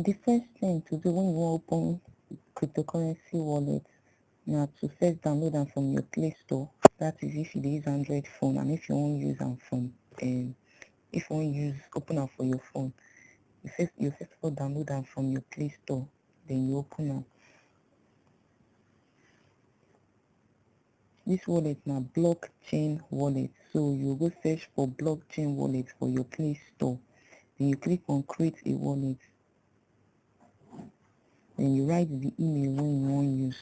the first thing to do when you wan open cryptocurrency wallet na to first download am from your play store that is if you dey use android phone and if you wan use am from um, if you wan use open am for your phone you first you first of all download am from your play store then you open am This wallet na blockchain wallet so you go search for blockchain wallet for your play store then you click on create a wallet then you write the email wey you wan use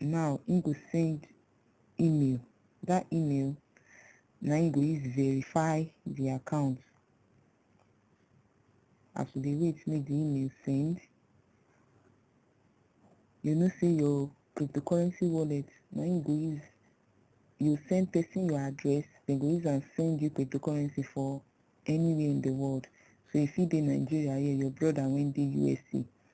now im go send email that email na im go use verify the account as we dey wait make the email send you know say your cryptocurrency wallet na im go use you send person your address dem go use am send you cryptocurrency for anywhere in the world so you fit dey nigeria here your brother wey dey usa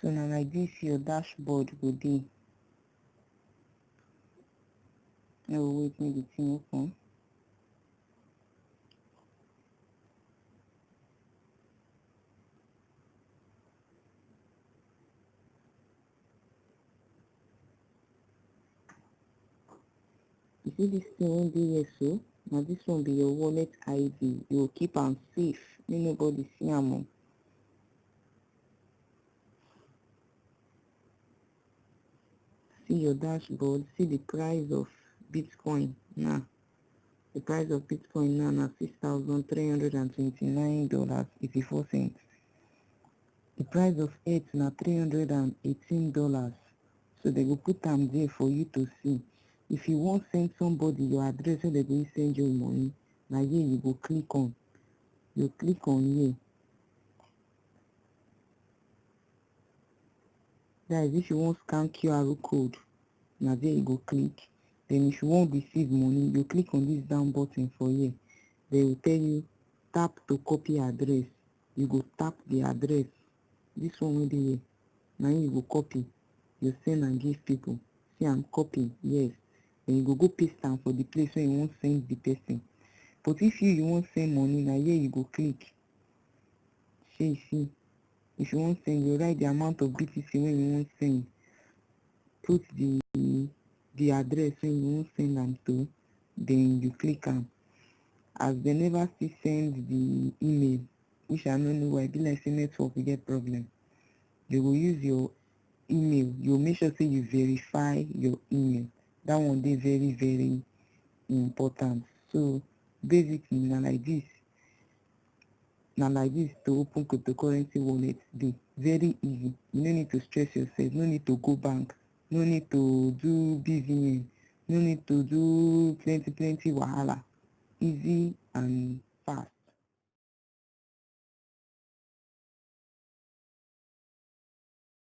so na like this your dashboard go dey no wait make the thing open You see this thing wey dey here so? Na this one be your wallet ID. You go keep am safe make nobody see am o. See your dashboard, see the price of Bitcoin now. The price of Bitcoin now na six thousand three hundred and twenty-nine dollars eighty-four cents. di price of earth na three hundred and eighteen dollars so dem go put am there for you to see if you wan send somebody your address wey dem go use send you money na here you go click on you click on here that is if you wan scan qr code na there you go click then if you wan receive money you click on this down button for here they will tell you tap to copy address you go tap the address this one wey dey here na him you go copy you send am give people see am copy yes then you go go paste am for the place wey you wan send the person but if you you wan send money na here you go click shey you see if you wan send you write the amount of btc wey you wan send put the the address wey you wan send am to then you click am as dem never still send the email which i no know why e be like say network we get problem they go use your email you make sure say you verify your email that one dey very very important so basically na like this na like this to open cryptocurrency wallet dey very easy you no need to stress yourself no need to go bank no need to do busy no need to do plenty plenty wahala easy and fast